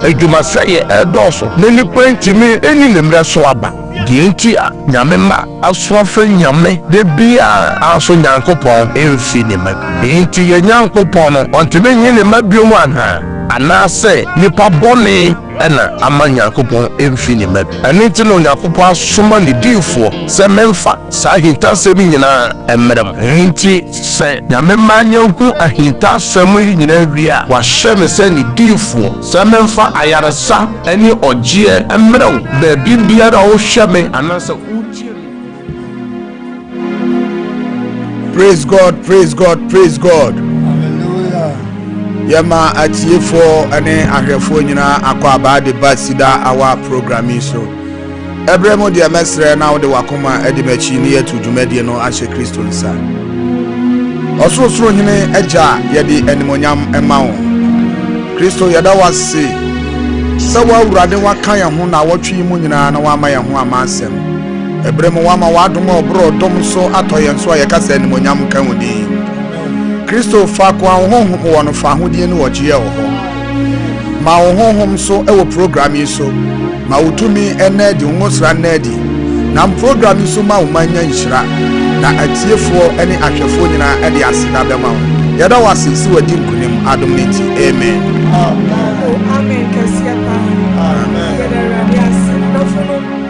Adwumasɛeɛ redɔɔso na nnipa ntumi nni ne mmerɛ so aba. Deɛ nti a Nyame mma aso afrɛ Nyame da biara anso Nyankopɔn mfi ne mma bio. Enti yɛn Nyankopɔn no ɔntumi nyi ne mma bio anaa? Anaasɛ nnipa bɔne na ama Nyankopɔn mfi ne mma bio? Ɛno nti na Onyankopɔn asoma ne diifoɔ sɛ memfa saa ahintasɛm yi nyinaa mmrɛ mo. Enti Sɛ Nyame mma yɛhu ahintasɛm yi nyinaa wie a, wahyɛ me sɛ ne diifoɔ sɛ memfa ayaresa ne ɔgyeɛ mmrɛ wo baabi biara a wohwɛ me anaasɛ wotie me. Praise God, praise God, praise God. Hallelujah. Yɛma atiefoɔ ne ahwɛfoɔ nyinaa akɔ abaa de ba Sida Awa program yi so. Ɛberɛ mu deɛ mɛsrɛ na wode w'akoma adi m'akyi na yɛatu dwumadie no ahyɛ Kristo nsa. Ɔsorosoro Hene Agya yɛde animuonyam ma wo. Kristo yɛda wo ase sɛ wo Awurade woaka yɛn ho naawɔtwe yi mu nyinaa na woama yɛn ho ama asɛm. Ɛberɛ mu woama w'adom a ɔborɔ ɔdɔm so atɔ yɛn so a yɛka sɛ animuonyam nka wo din. Kristo faako a wo Honhom wɔ no fa ahodie ne ɔgyeɛ wɔ hɔ. Ma wo honhom so wɔ program yi so. Ma wo tumi nna adi, wo ngosra nna adi. Nam program yi so ma wo man nya nhyira, na atiefoɔ ne ahwɛfoɔ nyinaa de aseda bɛma wo. Yɛda wo ase sɛ wadi nkunim adom no nti. Amen. Oh, amen kɛseɛ paa. Yɛda Awurade ase. Nnɔfo no,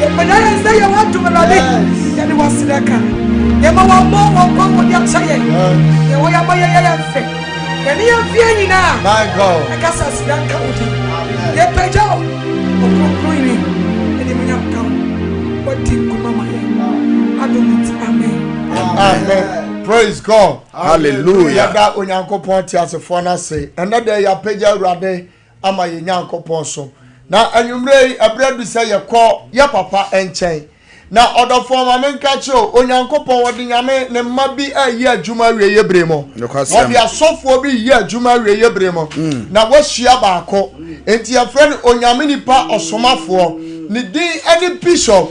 Yɛpɛda yɛn sɛ yɛ w'adom Awurade yɛde w'aseda ka yɛma wɔmmɔ wɔn kɔn mu de akyɛ yɛn yɛ wɔ yɛma yɛyɛ yɛn fɛ yɛne yɛn fie nyinaa ɛka sɛ aseda nka wo din yɛpɛgya wo ɔkronkron yi ɛde mu nyam ka wo wɔdi nkuma ma yɛn adom nti amen amen praise god hallelujah yɛda onyankopɔn teasefoɔ no ase ɛnɛ dɛ yɛapɛgya awurade ama yɛn Nyankopɔn so. Na anwummerɛ yi, ɛberɛ adu sɛ yɛkɔ yɛ papa nkyɛn. Na ɔdɔfoɔ ma menka kyerɛ o, Onyankopɔn wɔde Nyame ne mma bi ɛreyɛ adwuma awieɛ berɛ mu. Wɔde asɔfoɔ bi reyɛ adwuma awieɛ berɛ mu. Mm. Na wɔahyia baako. Enti yɛfrɛ no Onyame nipa ɔsomafoɔ. Ne din ɛne Bishop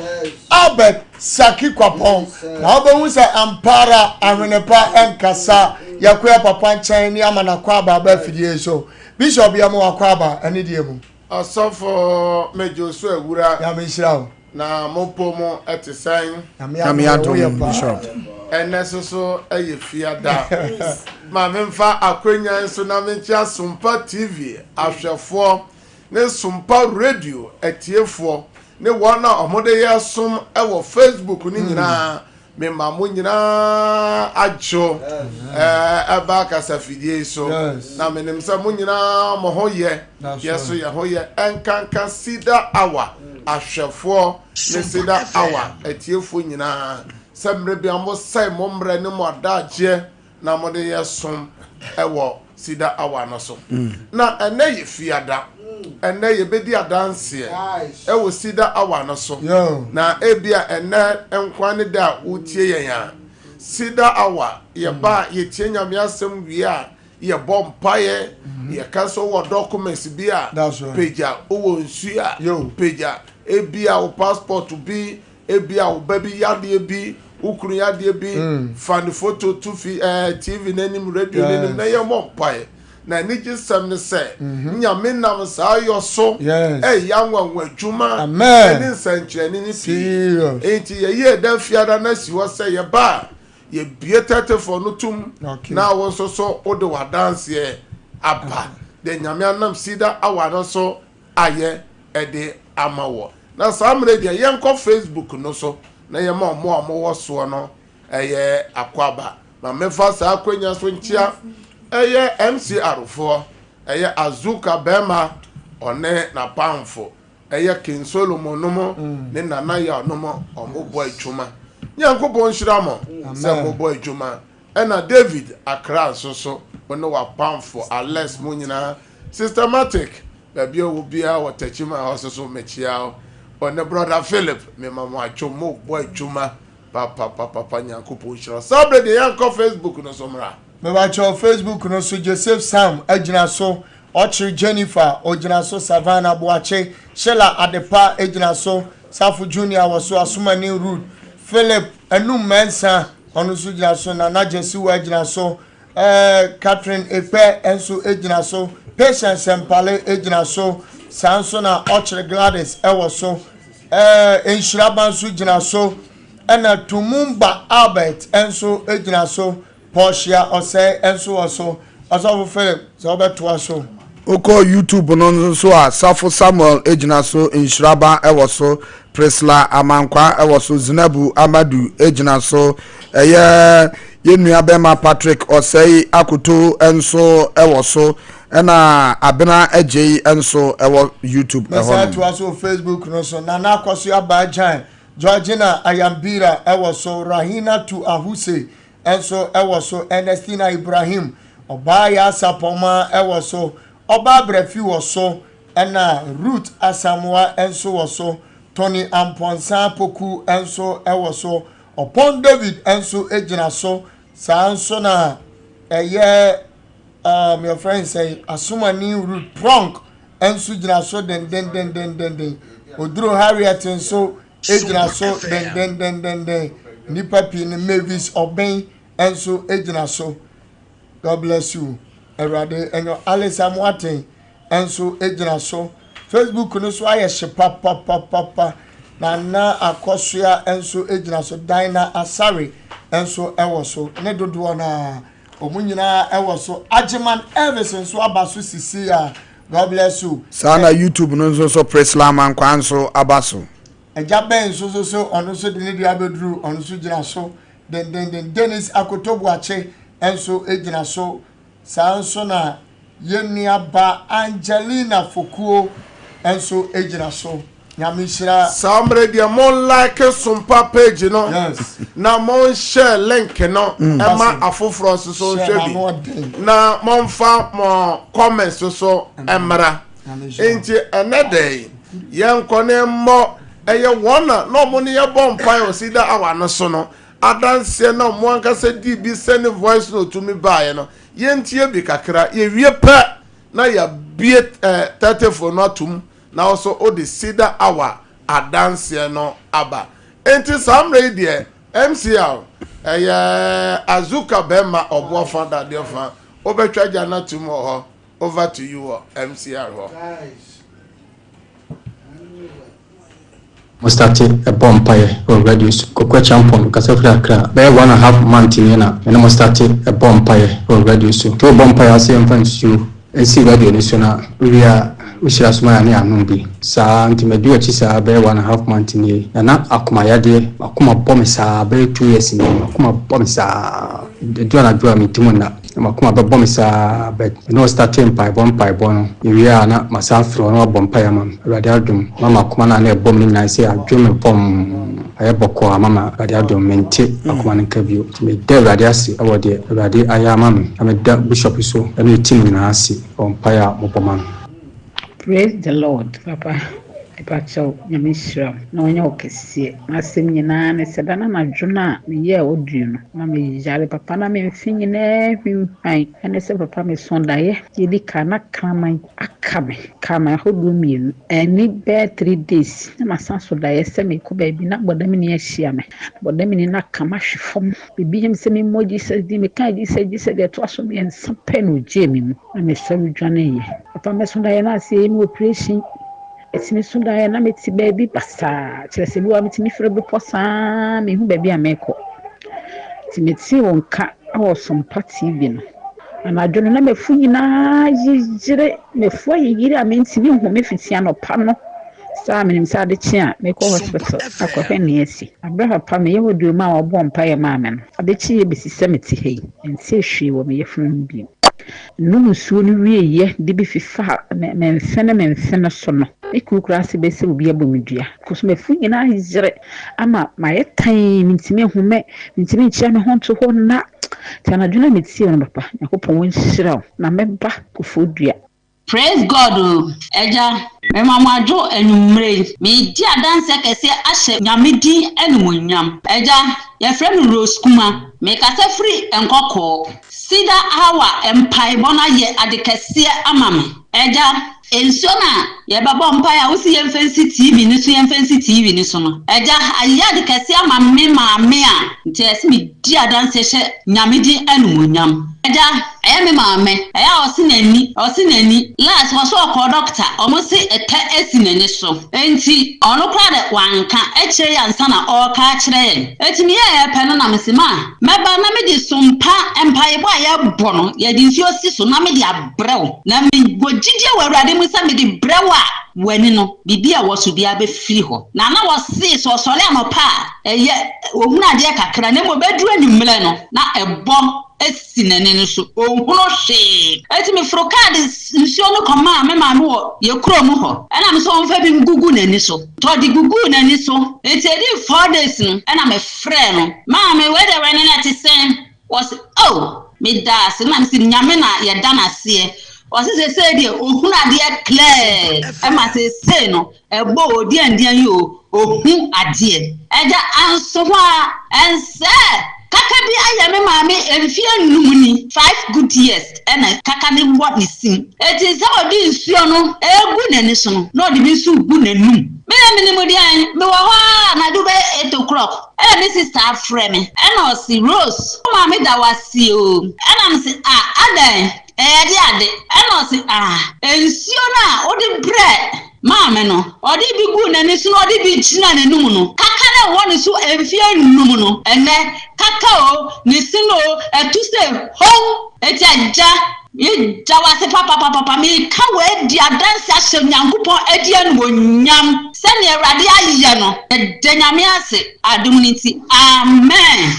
Albert Saki Kwapɔn. Na wobɛhu sɛ ampaara ahwenepa ɛnkasa. Yɛkɔ yɛ papa nkyɛn ne ama no akwaaba aba afidie yi so. Bishop yɛma wakɔ aba ɛne deɛ mu. Ɔsɔfo medwo so awura. Nyame nhyira wo. Na mo pɔ mu ɛte sɛn. Nyame adom yɛwo yɛ paa. Ɛnɛ soso ɛyɛ fiada. Ma me nfa akwanya yi so na me nkyea Sompa TV ahwɛfoɔ ne Sompa Radio atiefoɔ ne wɔn a wɔn de yɛ som ɛwɔ Facebook no nyinaa. Mema mo nyinaa adwo ba kasafidie yi so, na menim sɛ mo nyinaa mo ho yɛ, yɛ so yɛ ho yɛ. Ɛnkanka Cedar Hour ahwɛfoɔ ne Cedar Hour atiefoɔ nyinaa sɛ mmerɛ bi a mosɛe mo mmerɛ ne mo adaagyeɛ na wɔde yɛ som wɔ Cedar Hour no so. Na ɛnnɛ yɛ Fiada. Ɛnnɛ yɛbɛdi adanseɛ wɔ Cedar Hour no so. Na ebia ɛnnɛ nkoa ne da a wotie yɛn a. Cedar Hour, yɛba a yɛtie Nyame asɛm wie a, yɛbɔ mpaeɛ, yɛka sɛ wowɔ documents bi a, pagya, wowɔ nsuo a, pagya, ebia wo passport bi, Ebia wo ba bi yɛ adeɛ bi, wo kunu yɛ adeɛ bi, fa ne foto to fi ɛɛ TV no anim, radio no anim, na yɛmmɔ mpaeɛ. Na anigyesɛm ne sɛ, Nyame nam saa yɔ so reyɛ anwanwa adwuma ne nsɛnkyerɛnne no pii. Enti yɛyi ɛda Fiada no asi hɔ sɛ yɛba a, yɛbue Tɛtefɔɔ no tom, na wo nso so wode w'adanseɛ aba deɛ Nyame anam Cedar Awa no so a yɛ ɛde ama wɔ. Na saa mmerɛ yi deɛ yɛnkɔ Facebook no so na yɛma ɔmo a ɔmo wɔ soɔ no ɛyɛ akwaaba. Ma mefa saa akwanya so nkyea ɛyɛ MCR foɔ, ɛyɛ Azuka bɛɛma ɔne n'apamfo, ɛyɛ King Solomon nom ne Nana Yaw nom ɔmo bɔ adwuma. Nyankopɔn nhyira mo sɛ mo bɔ adwuma. Ɛna David akra nso so wo ne wapamfo Alex mo nyinaa Sister Matic baabi a wo biara wɔ Techiman hɔ so so mekyea wo wo ne Brother Philip me ma mo atwom mo bɔ adwuma papapapapa Nyankopɔn nhyira wo saa berɛ deɛ yɛn kɔ Facebook no so mmra. Mebakyɛw Facebook no so Joseph Sam agyina so ɔkyere Jennifer ogyina so Savanna Boakye Sheila Adepa agyina so Safo Junior wɔ so Asomani Ruth Philip Anum Mensah Ɔno nso gyina so. Nana Gyasiwa gyina so. Ɛɛ Catherine Ekpɛ nso gyina so. Patience Sɛmpale gyina so. Saa nso na Ɔkyere Gladys wɔ so. Ɛɛ Nhyiraba nso gyina so. Ɛna Tumumba Albert nso gyina so. Portia Ɔsɛe nso wɔ so. Ɔsɔfo Philip, sɛ wobɛtoa so. Wokɔ YouTube no nso a, Safo Samuel gyina so, Nhyiraba wɔ so, Prisla Amankwa wɔ so, Zinabu Amadu gyina so, ɛyɛ yɛn nua bɛma Patrick Ɔsɛe Akoto nso wɔ so, ɛna Abena Agyei nso wɔ YouTube ɛhɔ nom. Mɛsan atoa so wɔ Facebook no so, Nana Akwaso Abaa Gyan, Georgina Ayambira wɔ so, Rahinatu Ahusey nso wɔ so, Ernestina Ibrahim, ɔbaa Yaasapɔma wɔ so, ɔbaa Brɛfi wɔ so, ɛna Ruth Asamoa nso wɔ so, Tony Amponsah Poku nso wɔ so, Ɔpɔn David nso gyina so, saa nso na ɛyɛ um, yɛfrɛ no sɛ Asomani Ruth Pronk nso gyina so dendendendendenden, Oduro Harriet nso gyina so dendendendenden. Nnipa pii no Mavis Ɔbɛn nso gyina so. God bless you. Awurade ɛnyɛ Alisa Moaten nso gyina so. Facebook no so ayɛ hye papapapapa. Nana Akɔsoa nso gyina so. Dina Asare nso wɔ so. Ne dodoɔ no ara. Ɔmo nyinaa ɛwɔ so. Agyeman Elvis nso aba so sisii a. God bless you. Saa na YouTube no nso so Priscilla Amankwah nso aba so. Agya Ben nso so so ɔno nso de ne deɛ abɛduru ɔno nso gyina so dendenden. Dennis Akoto Boakye nso gyina so. Saa nso na yɛn nuabaa Angelina Fokuo nso gyina so. Nyame nhyira. Saa mmerɛ deɛ mo like sompa page no na mo share link no ɛma mm. afoforɔ nso so nhwɛ bi na mo nfa mo comment so so ɛmra nti ɛnɛ dɛn yɛn nkɔ ne mmɔ ɛyɛ wɔn na na wɔn ne yɛ bɔ mpa yɛ ɔsi da awa no so no adanseɛ na wɔn ankasa di bi sɛ ne voice no tumi baeɛ no yɛn tie bi kakra yɛ wie pɛ na yɛ bie ɛɛ eh, tɛtɛfo no atum. nanso wode Cedar Hour adanseɛ no aba. Enti saa mmerɛ yi deɛ, MCL, ɛyɛ Azuka bɛrima ɔboɔfa dadeɛ fa, wobɛtwa gya no atom wɔ hɔ, over to you wɔ MCL hɔ. Mo starte bɔ mpaeɛ wɔ radio so. Kwaku Acheampong mekasa firi Accra bɛyɛ one and half month nie na me ne mo starte bɔ mpaeɛ wɔ radio so. Nti wo bɔ mpaeɛ a ɔse yɛmfa nsuo nsi radio no so na wo wie a wo hyira so ma yɛn a na yɛanom bi saa nti madi wakyi saa bɛyɛ one and half month nie na na akoma yadeɛ makoma bɔ me saa bɛyɛ two years nie makoma bɔ me saa ɛdu anadwo a menti mu nna. na m'akoma bɛbɔ me saa but me ne wo startee mpaebɔ mpaebɔ no yɛwie a na masan afrɛ wo na wabɔ mpaeɛ ama me Awurade adom ma m'akoma no a na ɛbɔ me no nyinaa sɛ adwo me pɔmm ayɛ bɔkɔɔ ama ma Awurade adom mente akoma no nka bio nti meda Awurade ase wɔ deɛ Awurade ayɛ ama me na meda Bishop so ne ne team nyinaa ase wɔ mpaeɛ a mobɔ ma no. Praise the Lord papa mepakyɛw nyame nhyira wo na ɔnyɛ wo kɛseɛ masɛm nyinaa ne sɛ da na anadwo no a meyɛɛ audio no na meyare papa na me mfe nyinaa hwimpan ɛne sɛ papa meso daeɛ yɛdi kan na kraman aka me kraman ahodoɔ mmienu ɛni bɛɛ three days na masan so daeɛ sɛ mekɔ baabi na bɔdamini ahyia me bɔdamini no aka mahwe fam bibi yam sɛ memmɔ Jesus din meka Jesus Jesus deɛ ɛtoa so mmiɛnsa pɛ na ogyee me mu na mesɔre dwaneeɛ. Papa mɛso daeɛ na ase yɛ me operation. Ɛtumi so daeɛ na mete baabi basaa, kyerɛ sɛ bi wɔ hɔ a metumi firi bepɔ saa menhu baabi a merekɔ. Nti metee wo nka wɔ Sompa TV no. Anadwo no na m'afu nyinaa yeyere, m'afu ayeyere a mentumi nhome fiti anɔpa no Saa a minim sɛ ade kye a, mekɔ hospital akɔhwɛ nea asi. Bere papa, meyɛ hɔ duu maa wɔbɔɔ mpae maa me no, ade kyee yɛ besi sɛ mete ha yi, mentee hwee wɔ me yafunu ho bio. Minom nsuo no wieeɛ de bi fifaa me mfe ne me mfe no so no, me kuru koraa ase bɛyɛ sɛ obi abɔ me dua, because m'afuru nyinaa ayere ama mayɛ tann, mintumi nhu me, mintumi nkyea me ho nto hɔ nna. Nti anadwo no a metie wo no papa, Nyankopɔn nhyira wo na mɛba Kofodua. Praise God o agya mema mo adwo anwumerɛ yi meredi adanseɛ kɛseɛ ahyɛ nyame din animuonyam agya yɛfrɛ me Rose Kuma mekasa firi nkɔkɔɔ cedar hour mpaebɔ no ayɛ ade kɛseɛ ama me agya nsuo no a yɛbɛbɔ mpaeɛ a wosi yɛmfa nsi TV no so yɛmfa nsi TV no so no agya ayɛ ade kɛseɛ ama me maame a nti ɛsɛ medi adanseɛ hyɛ nyame din animuonyam agya Ɛyɛ me maame. Ɛyɛ a ɔse n'ani, ɔse n'ani. Last wɔse ɔkɔɔ dɔkta, ɔmo se ɛtɛ asi n'ani so. Enti ɔno koraa dɛ wanka ɛkyerɛ yi ansa na ɔɔka akyerɛ yɛn. Eti meyɛɛ pɛ no na mese ma mɛba na mede sumpa, mpaebɔ a yɛbɔ no, yɛde nsuo si so na mede abrɛ wo. Na me wɔ gyidie wɔ Awurade mu sɛ mede brɛ wo a, w'ani no, biribi a ɛwɔ so biara bɛfiri hɔ. Na na ɔse sɛ ɔsɔre anɔpa a, ɛyɛ, ɔhunu adeɛ kakra na mmom ɛduru anwummerɛ no, na ɛbɔ. si n'ani no so, ɔnhunu hwee. Enti meforo kaa de nsuo no kɔmaa me maame wɔ yɛn kurom hɔ, ɛna me sɛ ɔmfa bi ngugu n'ani so. Nti ɔde guguu n'ani so, enti ɛdii four days no, ɛna mefrɛɛ no, Maame, wei deɛ wɛne no ɛte sɛn? Ɔse, Oh! Meda ase. Ɛna mese, Nyame na yɛda no aseɛ. Ɔse, Seesei deɛ ɔhunu adeɛ clear, ɛma seesei no Ɛbɔ o, diandian yi o, ohu adeɛ. Agya Ansohaa, ɛnsɛ! Kaka bi ayɛ me maame mfeɛ nnum ni, five good years, ɛna kaka no wɔ ne sim. Enti sɛ ɔde nsuo no regu n'ani so no, na ɔde bi nso regu n'anum. Me deɛ menim deɛn, mewɔ hɔ ara anadwo bɛyɛ eight o'clock, ɛna me sista afrɛ me, ɛna ɔse, Rose, wo maame da wo ase o. Ɛna mese, Ah, adɛn? Ɛyɛde ade, ɛna ɔse, Ah! Nsuo no a wode brɛ maa me no, ɔde bi guu n'ani so na ɔde bi gyinaa n'anum no, kaka no ɛwɔ ne so mfeɛ nnum no, ɛnnɛ, kaka o, ne sini o, ɛtu se hom! Enti Agya, meda wo ase papapapapa, meka wei adi adanse ahyɛ Nyankopɔn adi animuonyam, sɛdeɛ Awurade ayɛ no, meda Nyame ase adom no nti, Amen.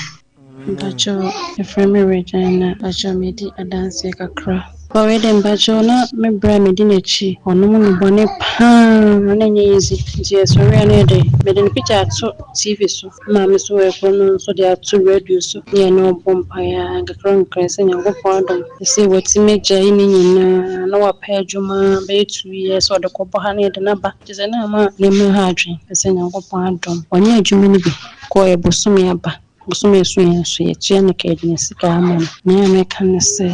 Mpakyɛw yɛfrɛ me Regina. Mpakyɛw medi adanseɛ kakra. Ɔɔ wei deɛ mpakyɛw na me berɛ a medi n'akyi ɔnom no bɔne paa na ɛnyɛ easy nti yɛsɔre a na yɛde mede ne picture ato TV so na maame nso wɔ ɛkoro no nso de ato radio so na yɛne ɔbɔ mpaeɛ a nkakra nkakra sɛ Nyankopɔn adom no sɛ watumi agyae ne nyinaa na wapɛ adwuma bɛyɛ two years sɛ ɔde kɔbɔ ha na yɛde no aba kyerɛ sɛ na ama ne mma ha adwene sɛ Nyankopɔn adom wanyɛ adwuma no bi. Kɔ yɛ bosome aba bosome aso yɛ nso yɛ kyia no kɛ yɛde sika ama no. Nea meka ne sɛ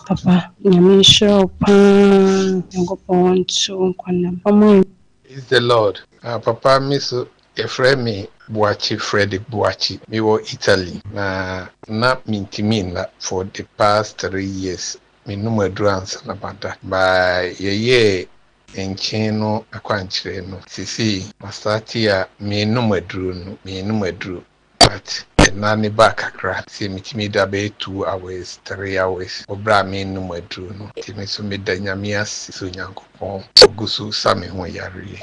papa nyame nhyira wo paa nyankopɔn ɔnte wo nkwa nam ɔmo a. Praise the Lord ah papa me so yɛfrɛ me Boakye Freddy Boakye me wɔ Italy na na me ntumi nna for the past three years me nom aduru ansa na ma da but yɛyɛɛ Nkyee no akwankyerɛ no. Sesei masate a menom aduro no menom aduro but ɛna ne ba kakra sɛ metumi da bɛyɛ two hours three hours wɔ berɛ a menom aduro no nti me nso meda Nyame ase sɛ Onyankopɔn ɔgu so sa me ho yareɛ yi.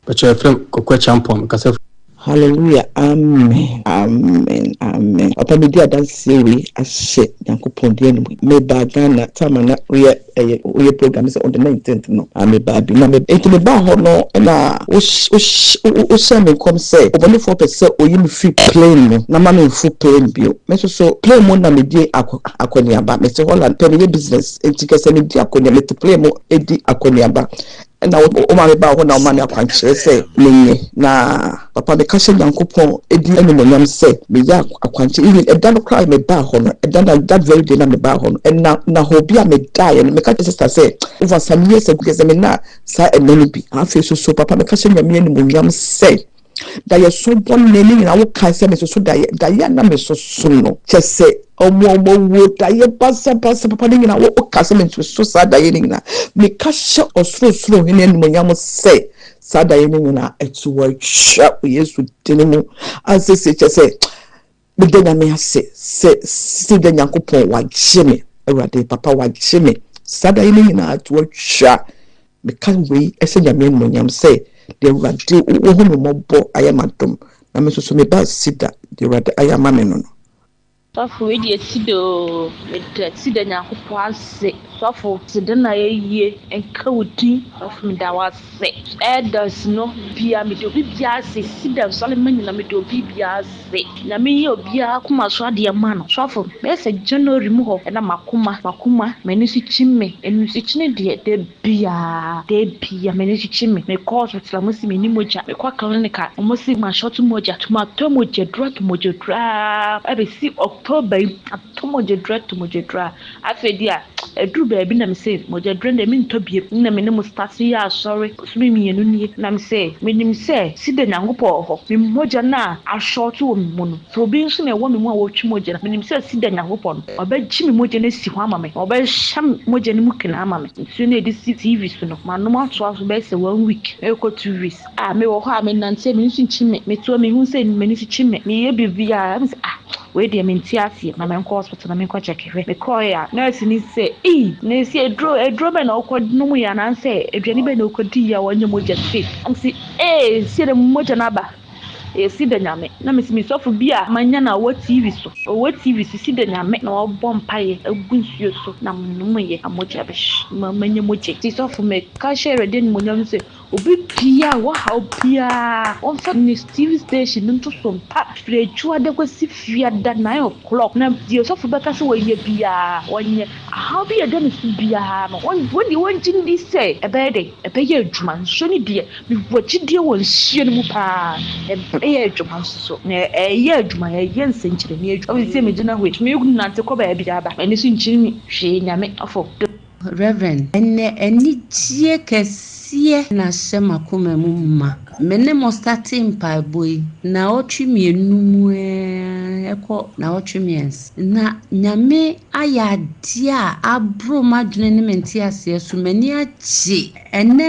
Ɔkyerɛkyerɛfo Kokua Kyampong, kasafo. Hallelujah amen amen amen papa medi adanseɛ wei ahyɛ nyankopɔn din animu mebaa Ghana time a na woyɛ ɛyɛ woyɛ program no sɛ on the nineteenth no ah mebaa bi na me nti mebaa hɔ no na wo wo wohyɛ me nkɔm sɛ ɔbɔnefoɔ pɛ sɛ oyi me firi plane mu na ma me nfo plane bio me nso so plane mu na medi akɔ akɔneaba mete Holland pɛ meyɛ business nti kɛsɛ medi akɔneaba mete plane mu edi akɔneaba Ɛna wo maame baa hɔ na ɔmaa me akwankyerɛ sɛ menyɛ. Na papa meka hyɛ Nyankopɔn din animuonyam sɛ meyɛ akwankyerɛ. Even ɛda no koraa a mebaa hɔ no, ɛda no a, that very day no a mebaa hɔ no, ɛna na hɔ bi a medaeɛ no, meka kyerɛɛ sister sɛ, over some years ago, yɛsɛ menyaa saa ɛna no bi. Afei nso so, papa meka hyɛ Nyame animuonyam sɛ. Daeɛ so bɔne ne nyinaa wo kae sɛ mesoso daeɛ daeɛ a na mesoso no kyɛ sɛ ɔmo ɔmo awuo daeɛ basa basa papa ne nyinaa wo ka sɛ mesoso saa daeɛ ne nyinaa me ka hyɛ ɔsorosoro hene animonyam sɛ saa daeɛ ne nyinaa ɛto atwa wɔ yesu dini mu ansese kyɛ sɛ Meda Nyame ase sɛ sɛ da Nyankopɔn wagye me Awurade papa wagye me saa da yi ne nyinaa to atwa meka wei ɛhyɛ Nyame animonyam sɛ deɛ Awurade wohu me mmɔbɔ ayɛ m'adom na me nso so meba asi da deɛ Awurade ayɛ ama me no no. Sɔfo wei deɛ ɛsi dɛ oo meda si da Nyankopɔn ase sɔfo te dɛ na yɛyie nka wo din sɔfo meda wo ase. Me elders no bia mede obi bia ase si dɛm sɔre ma nyina mede obi bia ase na me yɛ obia akoma so adeɛ ma no sɔfo bɛyɛ sɛ January mu hɔ ɛna makoma makoma mani so kyi me ɛnu so kyini deɛ da bia da bia mani so kyi me me kɔ hospital a ɔmo se meni mogya me kɔ clinic a ɔmo se ma short mogya to ma tɔ mogya duro ato mogya duro aa ɛbɛ si October yi. To mogyadura to mogyadura. Afei deɛ a ɛduru baabi na me se mogyadura no deɛ mentɔ biom. Nna me ne Mustafi yɛ asɔre bosome mmienu nie na me se menim sɛ sida Nyankopɔn wɔ hɔ. Me mogya no a ashort wɔ me mu no sɛ obi nso na ɛwɔ me mu a ɔretwe mogya no menim sɛ sida Nyankopɔn no ɔbɛgye me mogya no asi hɔ ama me na ɔbɛhyɛ me mogya no mu kene ama me. Nsuo no a yɛde si TV so no manom atoa so bɛyɛ sɛ one week ɛrekɔ two weeks a mewɔ hɔ a menante a m'ani so nkye me. Meto a mehu sɛ m'ani so kye me meyɛ biribiara me se ah Wei deɛ mente aseɛ, ma menkɔ hospital na menkɔ check hwɛ. Mekɔɔɛ a nurse no sɛ ei Nurse aduro aduro bɛn na wokɔ nomuiɛ anaasɛ aduane bɛn na wokɔ diiɛ a wɔnyɛ mogya sei. Na mese ee sei deɛ mogya no aba ee sida Nyame. Na mese me sɔfo bi a manya no a ɔwɔ TV so ɔwɔ TV so sida Nyame na ɔbɔ mpaeɛ agu nsuo so na menomuiɛ na mogya bɛhye ma manya mogya. Nti sɔfo meka hyɛ Awurade animuonyam sɛ Obi biara a wɔhaw biara wɔnfa ne TV station no nto so mpa firi adwuada kɔsi fiada nine o'clock na deɛ ɔsɔfo bɛka sɛ wɔnyɛ biara wɔnyɛ. Ahaw bi a ɛda ne so biara no wɔn wɔn deɛ wɔngye ndi sɛ ɛbɛyɛ dɛn ɛbɛyɛ adwuma nso ne deɛ mewɔ gyidie wɔ nsuo no mu paa ɛbɛyɛ adwuma nso so na ɛyɛ adwuma ɛyɛ nsɛnkyerɛnne adwuma. Afei sɛ megyina hɔ yi metumi nante kɔ baabi aba m'ani so nkyiri me hwee Nyame afɔ dom. Rev. Ɛnnɛ anigyeɛ kɛseɛ na ahyɛ m'akoma mu ma. Me ne mo state mpaebɔ yi nnawɔtwe mmienu mu ara ɛkɔ nnawɔtwe mmiɛnsa. Na Nyame ayɛ adeɛ a aboro m'adwene ne me nteaseɛ so. M'ani agye Ɛnɛ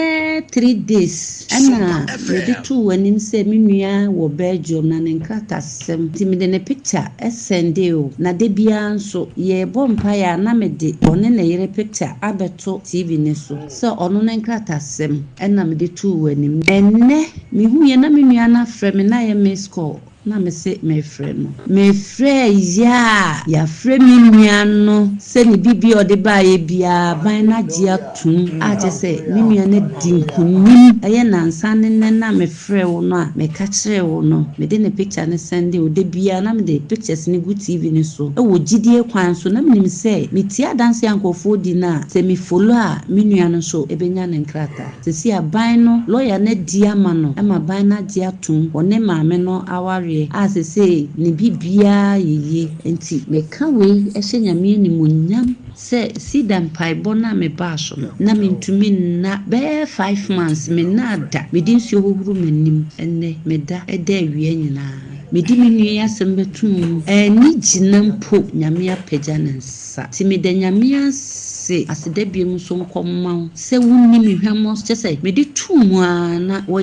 three days na mede too w'anim sɛ me nua wɔ Belgium na ne nkratasɛm nti mede ne picture sɛndee wo na da biara nso yɛrebɔ mpaeɛ a na mede ɔne ne yere picture abɛto TV no so sɛ ɔno ne nkratasɛm na mede too w'anim. Ɛnɛ mehuiɛ na me nua no afrɛ me na ayɛ missed call Na mese merefrɛ no. Mefrɛɛ yea a yɛafrɛ me nua no sɛ ne biribiara a ɔde baeɛ biara aban no agye atom, a kyerɛ sɛ me nua no adi nkonim. Ɛyɛ nnansa ne nnɛ no a mefrɛɛ wo no a meka kyerɛɛ wo no, mede ne picture no sɛndee wo da biara na mede pictures no gu TV no so wɔ gyidie kwan so na menim sɛ metie adanseɛ a nkurɔfoɔ di no a sɛ me follow a me nua no nso bɛnya ne nkrataa. Seesei aban no lɔya no adi ama no ma aban no agye atom wɔ ne maame no awareɛ a seesei ne biribiara yɛ yie nti. Meka wei hyɛ Nyame animuonyam sɛ Sida mpaebɔ no a mebaa so no, na mentumi nna bɛyɛ five months, mennaa da, mede nsuo hohoro m'anim, ɛnnɛ meda da awia nyinaa, medi me nua yi asɛm bɛtom mu, anni gyina mpo, Nyame apagya ne nsa. sa. Tse meda Nyame ase aseda biom so nkɔ mma wo sɛ wo ni me hwammɔ so kyɛ sɛ mede too mu aa na wa.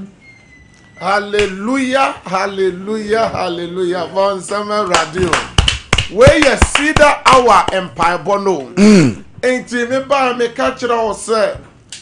Hallelujah hallelujah hallelujah bɔ nsɛm ma awurade o wei yɛ cedar hour mpaebɔ no o nti me baa me ka kyerɛ wo sɛ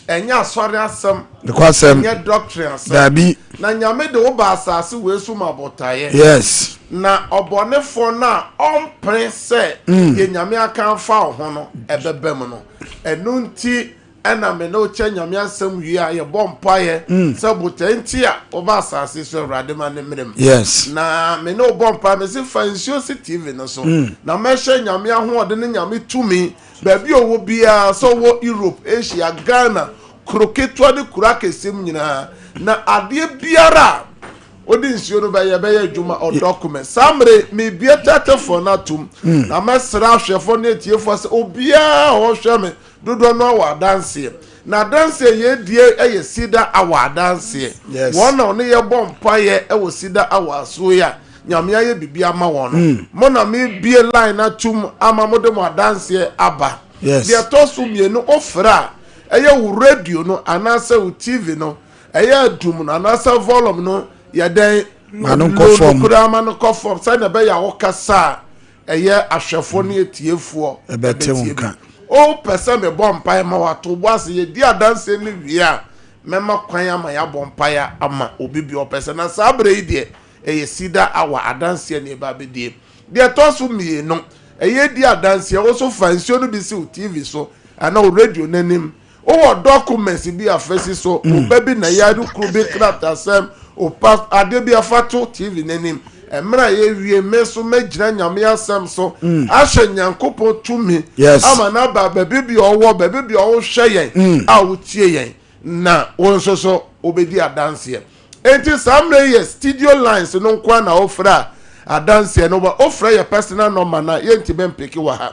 ɛnyɛ asɔre asɛm nokwasɛm ɛnyɛ doctrine asɛm dabi na nyame de wo ba asase wei so ma botaeɛ yes na ɔbɔnefoɔ no a ɔmpene sɛ mm. deɛ nyame aka afa wo ho no ɛbɛbɛ mu no ɛno nti ɛna me ne wokyɛ nyame asɛm wie a yɛbɔ mpaeɛ mm. sɛ botae nti a woba asase so awurade ma ne mmerɛ mu yes na me ne wobɔ mpaeɛ me se fa nsuo si tv no so mm. na mɛhyɛ nyame ahoɔden ne nyame tumi Baabi a ɔwɔ biara, sɛ ɔwɔ Europe, Asia, Ghana, kuro ketewa ne kuro akɛseɛ mu nyinaa, na adeɛ biara a ɔde nsuo no bɛyɛ, ɛbɛyɛ adwuma, ɔdɔ kome. Saa mmerɛ yi, mebue tɛtɛfoɔ no atom, na mɛsrɛ ahwɛfoɔ ne atiefoɔ sɛ obiara a ɔhwɛ me dodoɔ no awɔ adanseɛ. N'adanseɛ yɛ die yɛ Cedar Hour adanseɛ. Yes. Wɔn na ɔne yɛ bɔ mpaeɛ wɔ Cedar Hour asuo yɛ a Nyame ayɛ bibi ama wɔn no. Mm. Mo na me bie line atum ama mo de mo adanseɛ aba. Yes. Deɛ ɛtɔ so mmienu ofrɛ a ɛyɛ wo radio no anaasɛ wo TV no ɛyɛ adum no anaasɛ volume no yɛ dɛn? Ma no nkɔ fam. Low no koraa ma no kɔ fam sɛdeɛ ɛbɛyɛ a wo kasa a Ɛyɛ ahwɛfoɔ ne atiefoɔ ɛbɛte wo nka. Wopɛ sɛ mebɔ mpaeɛ ma wo a, to bo ase. Yɛdi adanseɛ no wie a, mɛma kwan ama yɛabɔ mpaeɛ ama obi biara ɔpɛ sɛ. Na saa berɛ yi deɛ, ɛyɛ Cedar Hour adanseɛ na yɛba abɛdie. Deɛ ɛtɔ so mmienu, ɛyɛ di adanseɛ. Wo nso fa nsuo no bi si wo TV so anaa wo radio no anim Wowɔ documents bi a fasi so, wo ba bi na yare kuro bi kratasɛm, wo pa adeɛ bi a fa to TV no anim. Mmerɛ a yɛwie me nso mɛgyina Nyame asɛm so ahyɛ Nyankopɔn tumi ama no aba baabi bia ɔwɔ, baabi bia wohwɛ yɛn a wotie yɛn na wo nso so wobɛdi adanseɛ. Enti saa mmerɛ yi yɛ studio lines no nkoa na wofrɛ a adanseɛ no wofrɛ yɛ personal number no a yɛntumi mpeke wɔ ha.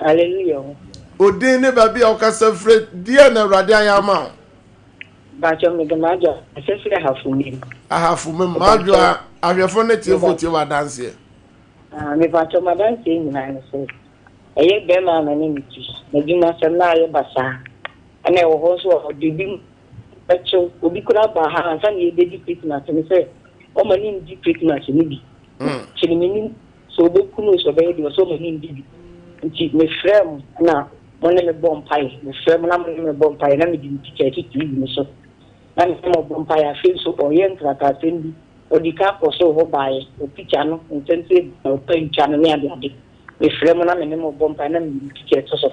Hallelujah o. O din ne baabi a wokasa fire deɛ na awurade ayɛ ama wo. Mpakyɛw me de m'adwoa kasa firi ahafo mim. Ahafo mim m'adwoa ahwɛfo ne tiefo tie w'adanseɛ. Ah me pakyɛw m'adanseɛ nyinaa ne sɛ ɛyɛ bɛrima a na ne ne ti n'adwuma sɛm na ayɛ basaa ɛna ɛwɔ hɔ nso a ɔde bi ɛkyew obi kura ba ha ansa na yɛbɛdi Christmas ne sɛ ɔma ne ndi Christmas ne bi. Hmm. Kyerɛ menim sɛ ɔbɛku me o, sɛ ɔbɛyɛ deɛ, ɔsɛ ɔma mendi bi. Nti mefrɛɛ mo na mo ne me bɔ mpaeɛ, mefrɛɛ mo na mo ne me bɔ mpaeɛ, na mede me tikya atitiri yi mo so, na me ne mo bɔ mpaeɛ. Afei nso ɔyɛɛ nkrataasɛm bi, ɔdii kan kɔɔ soro hɔ baeɛ, ɔpikya no, nsɛm sɛ ebia ɔpantwa no ne adeade. Mefrɛɛ mo na me ne mo bɔ mpaeɛ, na mede me tikya to so.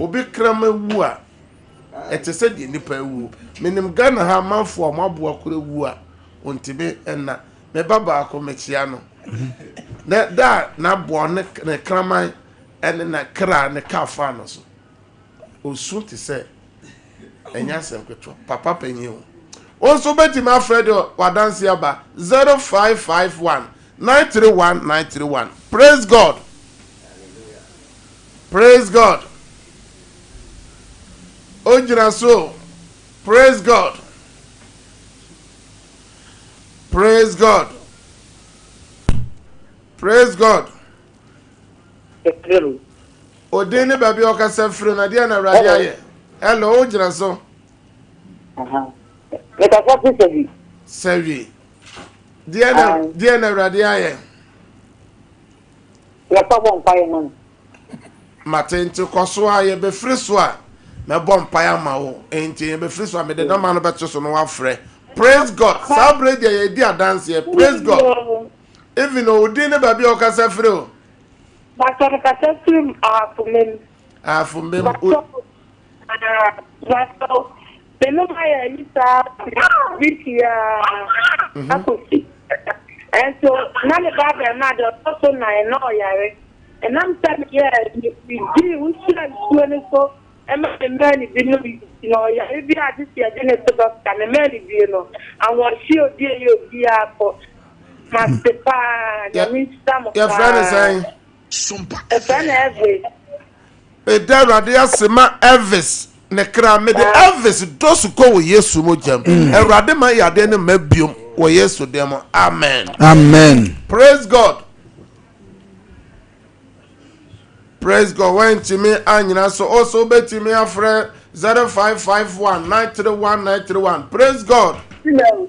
Obi kraman wu a, ɛte sɛ deɛ nipa awuo. Menim Ghana ha amanfoɔ a wɔn aboa kora wu a, wɔntumi nna. Me ba baako, mekyea no. Na da a n'aboa ne ne kraman ne na kra ne kaa faa no so. Ɔsu te sɛ ɛnyɛ asɛm ketewa. Papa panyin o. Wo nso wobɛtumi afrɛ de w'adanseɛ aba 0551 931 931. Praise God! Praise God Ogyina so o Praise God Praise God Praise God Odin ne baabi a ɔkasa firi na deɛ na awurade ayɛ Hello wogyina so Mekasa fi sɛ bi Sɛ wi Deɛ na awurade ayɛ Yɛkɔ bɔ mpaeɛ ma no. Mate nti kɔ so a yɛ bɛ firi so a mɛ bɔ mpaeɛ ama wo nti yɛ bɛ firi so a mɛ de nɔma no bɛ to so na wa frɛ praise God saa bere deɛ yɛ di adanseɛ praise God even o din ne baabi a o kasa firi o. Bàtɔ mi kasa firi mu ahafo mɛ mu. Ahafo mɛ mu. Bàtɔ o. Bàtɔ o. Menom ayɛ ani saa wiki a mhm. akɔsi nso na ne ba bɛrima de ɔtɔ so nan na ɔyare ɛnam sɛ meyɛ medii wohyia nsuo no so ɛma ne mmaa ne bi nom na ɔyare bi a gye sɛ yɛde ne to dɔkta ne mmaa ne bie no ahoɔhye obi ɛyɛ obiara kɔ mase paa nyame nhyira mo paa Sompa Saa na Elvis. Elvis. Meda Awurade ase ma Elvis ne kra. Mede Ah. Elvis dɔ su kɔ wɔ Yesu mogyam. Awurade ma yadeɛ no mma biom wɔ Yesu din mu. Amen. Amen. Praise God. Praise God. Wantumi anyina so. O so wobɛtumi afrɛ 0551 931 931. Praise God. Hello.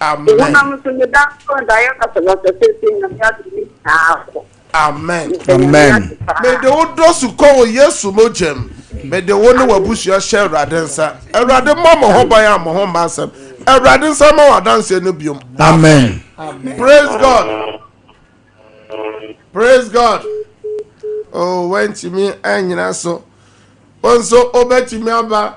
Amen. Amen. Amen. Mede wo dɔ su kɔ wɔ Yesu mogyam. Mede wo ne w'abusua hyɛ Awurade nsa. Awurade mmɔ mo ho ban a mo ho mma nsɛm. Awurade nsa ma w'adanseɛ no biom. Amen. Praise God. Praise God. Oh, wantumi anyina so. Wo nso wobɛtumi aba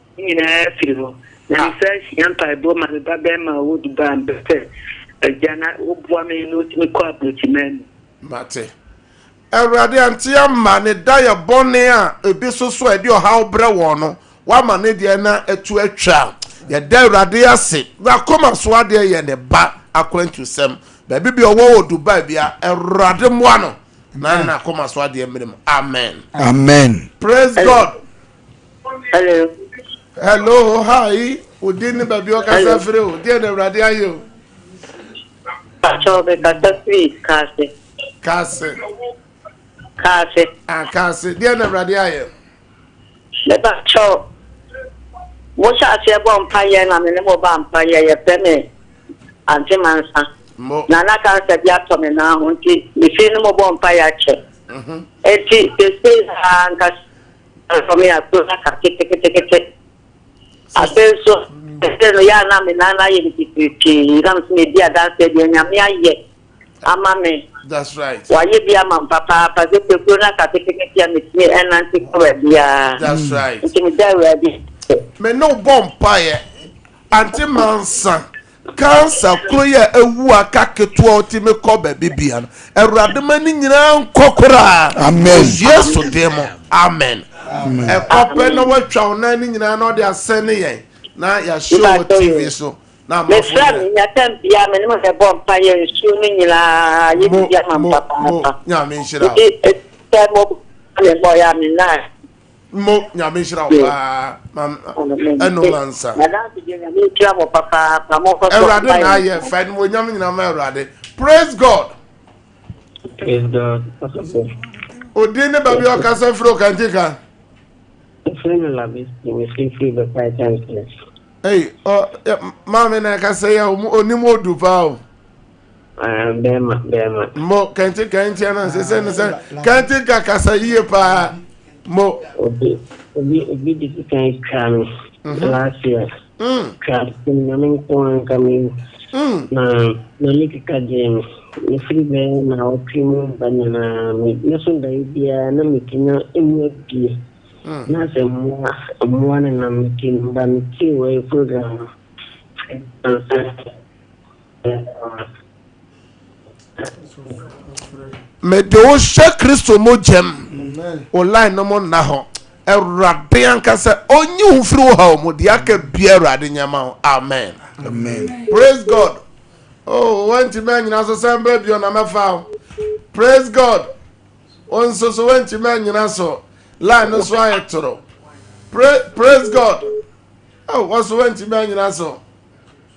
Ne nyinaa firi hɔ. Na mesan hyia mpaebɔ ma me ba bɛɛma a ɔwɔ Dubai mba sɛ, Agya na woboa me na ɔtumi kɔ abrɔkyimaa mu. Mate. Awurade ante amma ne dayɛ bɔne a ebi soso a ɛde ɔhaw brɛ wɔn no, wama ne deɛ no atu atwa. Yɛda Awurade ase. N'akoma so adeɛ yɛ ne ba akwantusɛm. Baabi bia ɔwɔ wɔ Dubai bia, Awurade mmoa no na n'akoma so adeɛ mmere mu. Amen. Amen. Praise God. Hello. Hello, hi. Wo din ne baabi ɔkasa firi o. Deɛ na Awurade ayɛ o. Patrɔ mekasa firi Kaase. Kaase. Kaase. Ah, Kaase. Deɛ na Awurade ayɛ. Me patrɔ, mo hyɛ aseɛ bɔ mpa yɛ na me ne mo ba mpa yɛ yɛfrɛ me Ante Mansa. Na na kansa bi atɔ me nan ho nti mefiri ne mo bɔ mpa yɛ akyɛ. Nti sese ha nkasa. Ɛsɔ me aso na ka ketekete. Afei nso, ɛsɛ no yɛ a na me nan ayɛ me titiritii na me so medi adanseɛ deɛ Nyame ayɛ ama me. Wayɛ bi ama me papaapa sɛ pɛkuo na ka ketekete a metumi ɛnante kɔ baabiara. Nti meda Awurade ase. Me ne wo bɔ mpaeɛ, Aunty Mansa. Cancer koro yi a awu aka ketewa a ɔtumi kɔ baabi bia no, Awurade ma ne nyinaa nkɔ koraa. Amen. Wɔ Yesu din mu, amen. Ɛkɔ pɛ na watwa wo nan no nyinaa na ɔde asɛn ne yɛn na yɛahyɛ wɔ TV so na amafo nyinaa. Mesrɛ me nya tam biara me ne mo bɛbɔ mpa yɛ nsuo no nyinaa yɛ biribi ama me papaapa. Mo mo Nyame nhyira wo. Nti sɛ mo bɔ me mmɔ yɛ a me nan. mo nyame nhyira wo paa ɛno ma nsa awurade na ayɛ fa no wɔnyam nyina ma awurade praise god odin ne baabi ɔkasa firi ɔkante ka Ei, oh, maame na ɛkasa yi a ɔnim odu paa o bɛrima bɛrima. mo kɛntɛn kɛntɛn na sɛ sɛ ne sɛ kɛntɛn ka kasa yie paa mo. obi obi obi de ti kan twa mi mhm. last year mm. twa ti mi na mi nko anka mi wu mm. na na mi keka gye mi ne firi bɛyɛ na ɔtwe mu ba nyinaa mi ne so da yi biara na mi ti na emu abie mm. na sɛ mmoa mmoa ne nam mi ti ba mi ti wɔ program no. mede wo hyɛ kristo mogya mu wo line no mo nna hɔ awurade ankasa ɔnyi wo mfiri wo haw mu deɛ aka bia awurade nyɛma wo amen praise god oh wantumi anyina so san berɛ bio na mɛfa wo praise god wo nso so wantumi anyina so line no so ayɛ toro praise god oh wɔso wantumi anyina so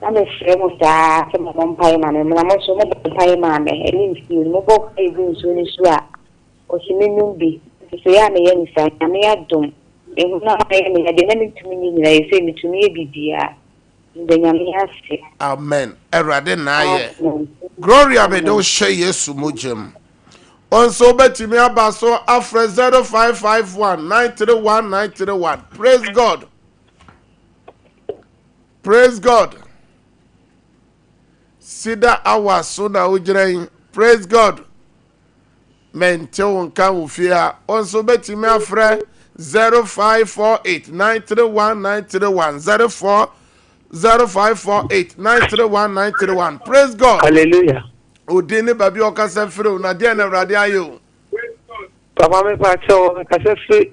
Na mefrɛ mo daa sɛ mommɔ mpaeɛ ma me, na mo nso mobɔ mpaeɛ maa me. Ɛno nti, mebɔ mpaeɛ gu nsuo no so a, ɔse mennom bi. Nhyehyɛeɛ a meyɛ ne saa, Nyame adom, me honam ayɛ me ya, deɛ na mentumi nyɛ nyinaa, seesei metumi yɛ biribiara. Meda Nyame ase. Amen awurade na ayɛ. Amen. Gloria mede wo Amen. hyɛ Yesu mogya mu. Wo nso wobɛtumi aba so afrɛ 0551 931 931. Praise God. Praise God Sida awa so na wogyina yi Praise God Mente wo nka wo fie ha Wo nso bɛtumi afrɛ 0548931931 04 0548931931 Praise God Hallelujah Odin ne baabi ɔkasa firi wo na deɛ na Awurade ayɛ o Papa me pa kyɛw ɔkasa firi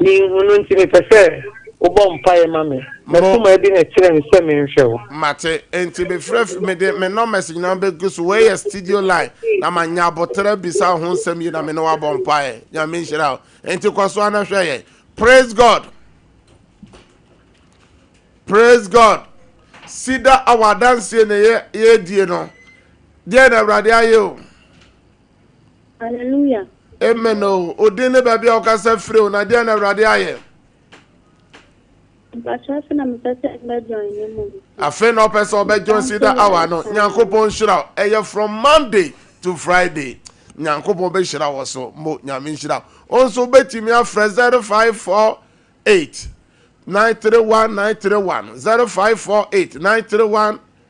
Minhu no nti mepɛ sɛ wobɔ mpaeɛ ma me. M'akoma adi na kyerɛ me sɛ menhwɛ wo. Mate. Enti mefrɛ fi, mede me nɔmɛs nyinaa bɛgu so. Wei yɛ studio line, na manya aboterɛ abisa wo ho nsɛm yi na me ne wo abɔ mpaeɛ. Nyame nhyira wo. Enti kɔ so ara na hwɛ yɛn. Praise God! Praise God! Sida awɔ adanseɛ na yɛredie no. Deɛ na Awurade ayɛ o. Hallelujah. Amen o. Oh. Odin ne baabi a ɔkasa firi o na deɛ na Awurade ayɛ. Mpatsɔ afei na mepɛ sɛ mbɛ join ne mu. Afei na ɔpɛ sɛ ɔbɛ join si da awa no. Nyankopɔn nhyira ɛyɛ from Monday to Friday. Nyankopɔn bɛ hyira wɔ so mo nyame nhyira. Onso bɛtumi afrɛ zero five four eight nine three one nine three one zero five four eight nine three one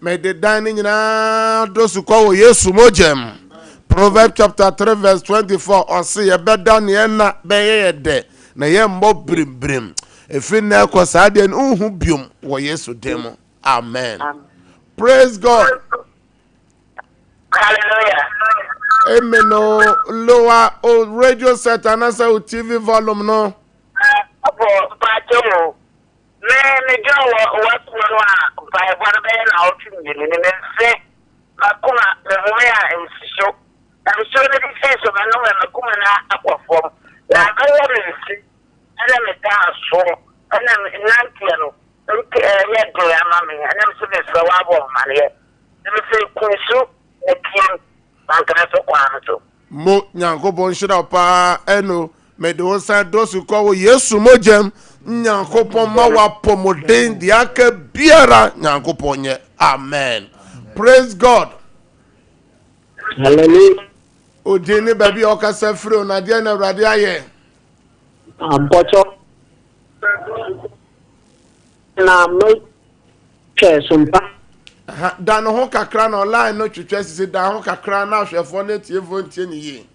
Mede dan no nyinaa do sukɔ wɔ Yesu mogya mu. Proverbs chapter 3 verse 24 ɔse yɛbɛda neɛ nna bɛyɛ yɛ dɛ na yɛmmɔ brimbirim. Ɛfiri nnɛ rekɔ saa deɛ no wonhu biom wɔ Yesu din mu. Amen. Praise God. Hallelujah. Amen o. Lower o radio set anasa o TV volume no. Apo, mpacho mo. Me me dwen wɔ ow'akuo no a mpaebɔ no bɛyɛ naawɔtwe mmienu ni me nse m'akoma me home a nsuso na nsuo no de fii so me nome m'akoma no akɔ fam na abɛyɛ me nse ɛne me daa so ɛna me nanteɛ no nti ɛyɛ den ama me ɛna me se me frɛ w'abɔ amaneɛ na me se kunsu Mɛteam na anka mɛsɔ kwan no so. Mo Nyankopɔn nhyira wo paa ɛno mede wo san dɔ so kɔ wɔ Yesu mogyam Nyankopɔn ma wapɔmuden deɛ aka biara Nyankopɔn nyɛ Amen Praise God Hallelujah Odin ne baabi a ɔkasa firi o na deɛ na Awurade ayɛ Ampɔkyɔ. Na mo twɛ so mpa. Da ne ho kakra na ɔline no twetwe sisi da ho kakra na ahwɛfoɔ ne atiefoɔ ntie ne yie.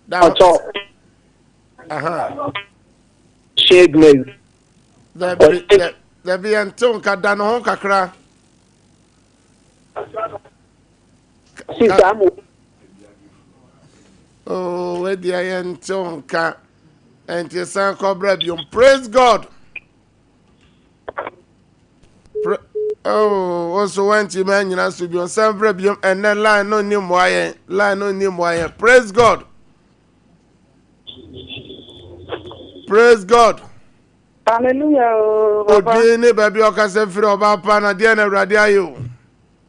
Da ho. Ɔtɔ. Aha. Shade Mary. Dabi dabi yɛn tew nka da ne ho kakra. Oh, where the iron tonka and the sun cobra biom. Praise God. Pra oh, also want to man you to be on some biom and then line no name why line no name why. Praise God. Praise God. Hallelujah. Oh, Odini baby okase firi oba pa na dia na awurade ayo.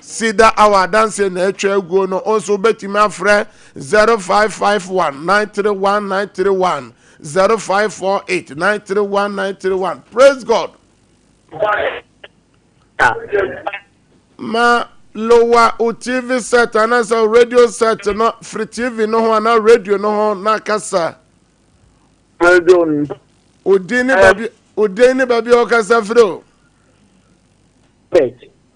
Cedar Hour adanseɛ na atwa aguo no, wo nso wobɛtumi afrɛ 0551 931 931 0548 931 931. Praise God! Ma lowa wo TV set anaasɛ wo radio set no firi TV no ho anaa radio no ho na kasa. Radio n- Odin ne baabi odin ne baabi a ɔkasa firi o. Pet.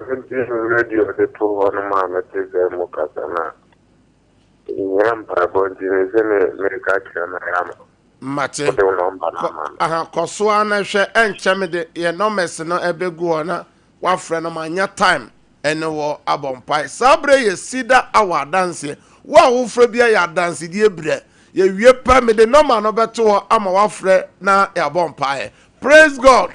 Mede me radio de too hɔ no maa mete sɛ mo kasa no a, mehia mpaebɔ nti me se me mereka kyerɛ no ayɛ ama. Mate. Wode wo nɔmba no ama me. Aha, kɔ so ara na hwɛ, ɛnkyɛ mede yɛn numbers no ɛbɛgu hɔ na wafrɛ no manya time ɛne wɔ abɔ mpae. Saa berɛ yɛ Cedar Hour adanseɛ. Wo a wofrɛ biara yɛ adansedie berɛ. Yɛwie pɛ, mede nɔma no bɛto hɔ ama wafrɛ na yɛabɔ mpaeɛ. Praise God!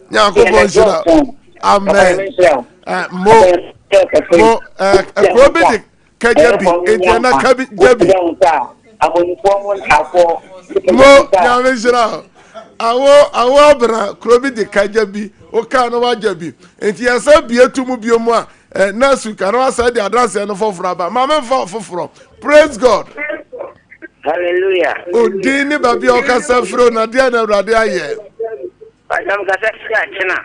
nyankopɔn nhyira amen eh, mo mo eh, kuro bi de kagya bi nti ɛna kabi gya bi mo nyame nhyira awo awo abena kuro bi de kagya bi wokaa no wagya bi nti yɛsɛ bie to mu bio mu a eh, next week ana wasɛ de adanseɛ no foforɔ aba ma memfa foforɔ praise god hallelujah odin ne baabi a ɔkasa firi o na deɛ na awurade ayɛ Madam kasa si akyena.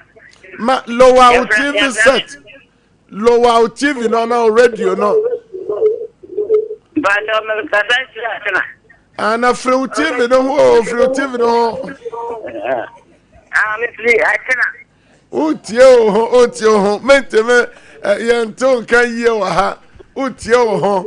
Ma lower wo TV set. Lower wo TV no na radio no. Bàtà mi kasa si akyena. Ana firi wo TV no ho o firi wo TV no ho. Ami firi akyena. O tie o ho o tie o ho mentemi yɛn to nka yie wɔ ha o tie o ho.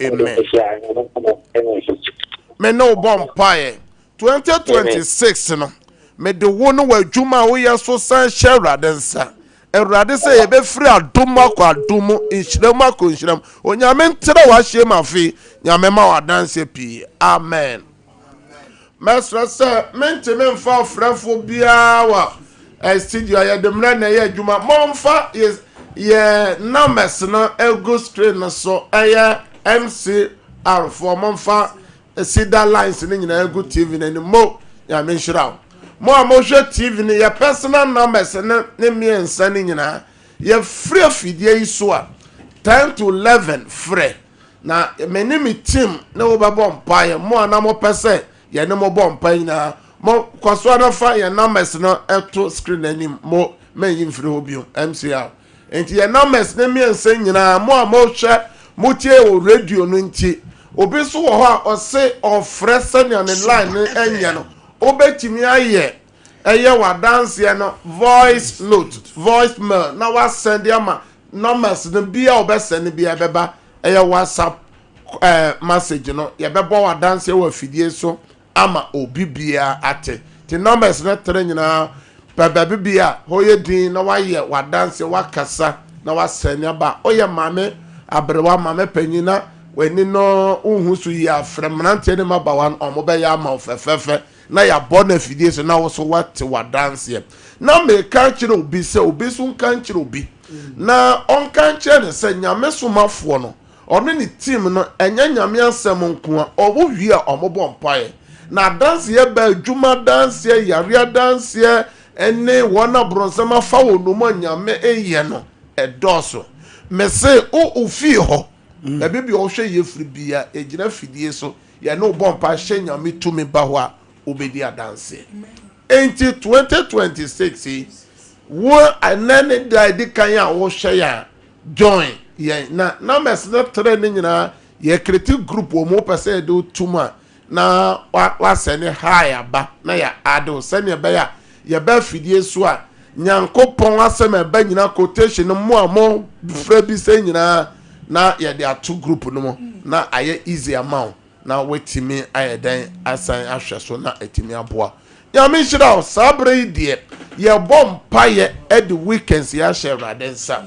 Amen. Me ne wo bɔ mpaeɛ. 2026 no, mede wo ne w'adwuma a woyɛ so san hyɛ Awurade nsa. Awurade sɛ yɛbɛfiri adom mu akɔ adom mu, nhyira mu akɔ nhyira mu. Onyame ntrɛ w'ahyeɛ mu afe yi. Nyame ma w'adanseɛ pii. Amen. Mɛsrɛ sɛ mentumi mfa ɔfrɛfoɔ biara wɔ studio a yɛde mmerɛ na ɛyɛ adwuma. Momfa yɛ numbers no ɛgu screen no so. Ɛyɛ MCR foɔ. Momfa Cedar lines no nyinaa ɛgu TV no anim. Mo, Nyame nhyira wo. Mo a mohwɛ TV no, yɛ personal numbers no ne mmiɛnsa no nyinaa. Yɛfiri afidie yi so a, 10 to 11 frɛ. Na me ne me team ne wo bɛbɔ mpaeɛ. Mo a na mopɛ sɛ yɛne mo bɔ mpaeɛ nyinaa, mo kɔ so ara fa yɛn numbers no to screen no anim. Mo mɛnyi mfiri hɔ bio. MCR. Enti yɛn numbers no mmiɛnsa nyinaa, mo a mohwɛ, motie wɔ radio no nti, obi nso wɔ hɔ a ɔse ɔrefrɛ sɛnea ne line no nyɛ no, wobɛtumi ayɛ Ɛyɛ w'adanseɛ no voice note, voice mail na wasɛn de ama numbers no bia ɔbɛsɛn no bia ɛbɛba ɛyɛ whatsapp eh, message no yɛbɛbɔ w'adanseɛ wɔ afidie so ama obi bia ate te numbers no tere nyinaa pɛ baabi bia hɔ yɛ din na wayɛ w'adanseɛ wakasa na wasɛn aba woyɛ maame aberewa maame panyin na w'ani no wohu so yie afrɛ mmeranteɛ ne mmabaawa no wɔbɛyɛ ama wo fɛfɛɛfɛ na yɛabɔ no afidie so na wo nso woate w'adanseɛ. Na mereka akyerɛ obi sɛ obi nso nka nkyerɛ obi, na ɔnka nkyerɛ no sɛ Nyame somafoɔ no, ɔne ne team no, ɛnyɛ Nyame asɛm nko ara, wɔwie a wɔbɔ mpaeɛ. Na adanseɛ bɛn? Adwuma adanseɛ, yareɛ adanseɛ, ne wɔn a bronsam afa wɔn nnommum a Nyame nyɛ no, ɛdɔɔso. Mese wo ofie hɔ, baabi bia wohwɛ yɛ firi biara, ɛgyina afidie so, Yɛne wo bɔ mpae hyɛ Nyame tumi ba hɔ a wobedi adanse. Enti 2026 yi, wo ɛnnɛ ne da a edi kan a wohwɛ yɛn a, join yɛn na numbers no tre no nyinaa yɛ creative group wɔn wopɛ sɛ yɛde wo to mu a na wa wa send hi aba na yɛ add wo sɛnea ɛbɛyɛ a Yɛba afidie so a, Nyankopɔn asɛm a ɛba nyinaa quotation no mo a mo frɛ bi sɛ nyinaa na yɛde ato group no mu na ayɛ easy ama wo na watumi ayɛ dɛn asan ahwɛ so na atumi aboa. Nyame nhyira wo. Saa berɛ yi deɛ yɛbɔ mpaeɛ de weekends yi ahyɛ Awurade nsa.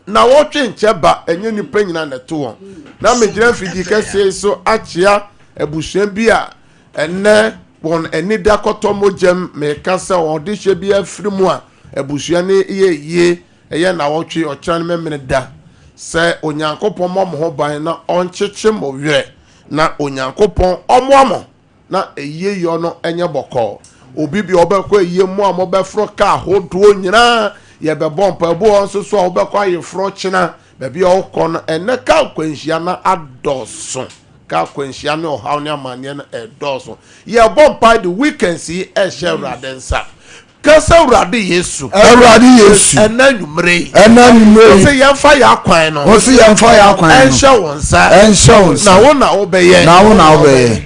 Nawɔtwe nkyɛ ba, ɛnyɛ nnipa nyinaa na ɛto wɔn. Na megyina afidie kɛseɛ yi so akyea abusua bi a Ɛnnɛ wɔn ani da kɔtɔ mogyam. Meka sɛ wɔn ɔdehyeɛ biara firi mu a, abusua no yɛ yie. Ɛyɛ nnawɔtwe, ɔkyena ne Memeneda. Sɛ Onyankopɔn mmɔ mo ho ban na ɔnkyekye mo werɛ, na Onyankopɔn ɔmmoa mo na ayieyɔ no nyɛ bɔkɔɔ. Obi bi a ɔbɛkɔ ayie mu a mobɛforo ka ahodoɔ nyinaa, yɛbɛbɔ mpaebɔ wɔ nso so a wobɛkɔ ayeforɔ ɔkyena. Baabi a ɔkɔ no, ɛnnɛ kaa akwanhyia no adɔɔso. Kaa akwanhyia ne ɔhaw ne amanneɛ no redɔɔso. Yɛrebɔ mpae de weekends yi rehyɛ Awurade nsa. Ka sɛ, Awurade Yesu. Awurade Yesu. Ɛnnɛ anwummere yi. Ɛnnɛ anwummere yi. Ɔse yɛmfa yɛn akwan no. Ɔse yɛmfa yɛn akwan no. Ɛnhyɛ wo nsa. Ɛnhyɛ wo nsa. Na wo na wobɛyɛ. Na wo na wobɛyɛ.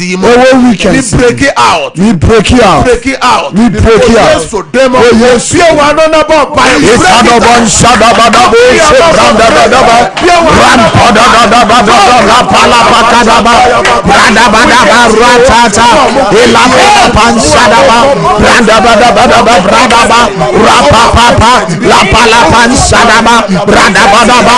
ɛwɔ weekend mi break it out mi break it out break it out mi break it out yesu demo o yesu bia wa no na bɔ ba yi break it out shada ba da bo se branda ba da ba ram pa da da da ba da da la pa la pa ka da ba branda ba da ba ra ta ta ila pa la pa shada ba branda ba da ba da ba branda ba ra pa pa pa la pa la pa shada ba branda ba da ba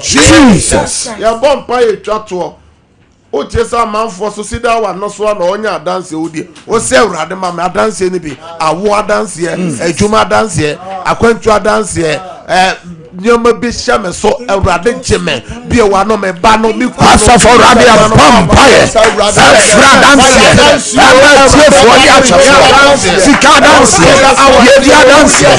jesus yɛbɔ mpa yɛ twa toɔ wotie sɛ amanfoɔ so si da wano so a na ɔnyɛ adanseɛ wo deɛ wo sɛ awurade ma me adanseɛ no bi awo adanseɛ adwuma adanseɛ akwantu adanseɛ Nneɛma bi hyɛ me so, Awurade gye me. Bue w'ano, me ba no, me kunu no. Asafo Awurade abɔ mpaeɛ ɛfiri adanseɛ ɛma atiefoɔ ne ahwɛfoɔ sika adanseɛ yɛdi adanseɛ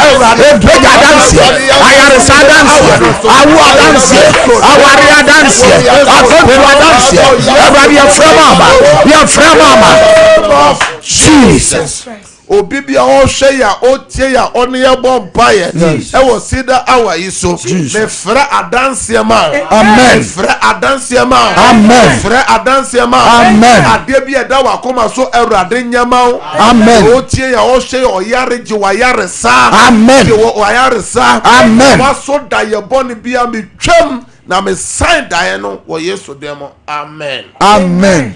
ɛbɛgya adanseɛ ayaresa adanseɛ awo adanseɛ aware adanseɛ akɔntu adanseɛ Awurade yɛfrɛ maama yɛfrɛ maama Jesus Obi bia ɔhwɛ yɛ a ɔtie yɛ a ɔne yɛ bɔ mpaeɛ ɛwɔ Cedar Hour yi so mefrɛ adanseɛ ma wo mefrɛ adanseɛ ma wo mefrɛ adanseɛ ma wo adeɛ bi ɛda wakoma so awurade nyɛ ma wo deɛ ɔtie yɛ ɔhwɛ yɛ ɔyare gye wayaresa gye wɔ wayaresa waso da yɛ bɔne bia metwam na mesan daeɛ no wɔ Yesu dɛm amen amen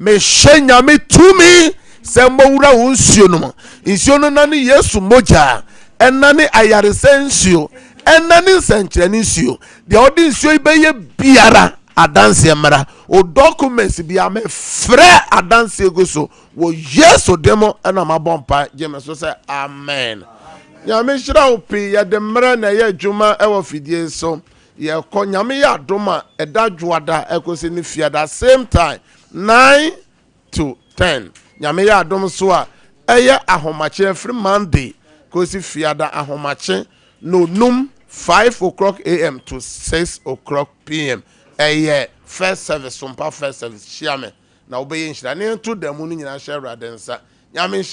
Mehyɛ Nyame tumi sɛ mmɔwura wo nsuo no mu. Nsuo no nane Yesu mogya, ɛnane ayaresa nsuo, ɛnane nsɛnkyerɛne nsuo. Deɛ ɔde nsuo yi bɛyɛ biara, adanseɛ mmra. O documents biara, mefrɛ adanseɛ gu so wɔ Yesu din mu ɛna mabɔ mpa. Gye me so sɛ amen. Nyame nhyira wo pii. Yɛde mmra na ɛyɛ adwuma ɛwɔ fidie so. Yɛkɔ Nyame yɛ adom a ɛda dwoada ɛkɔsi ne fiada same time nine to ten. Nyame yɛ adom nso a ɛyɛ ahomakye ɛfiri Monday kɔsi fiada ahomakye nonum five o'clock AM to six o'clock PM. Ɛyɛ first service sompa first service hyia me na wobɛyɛ nhyira. Nea ɛto damu no nyinaa hyɛ Awurade nsa. Nyame nhyira.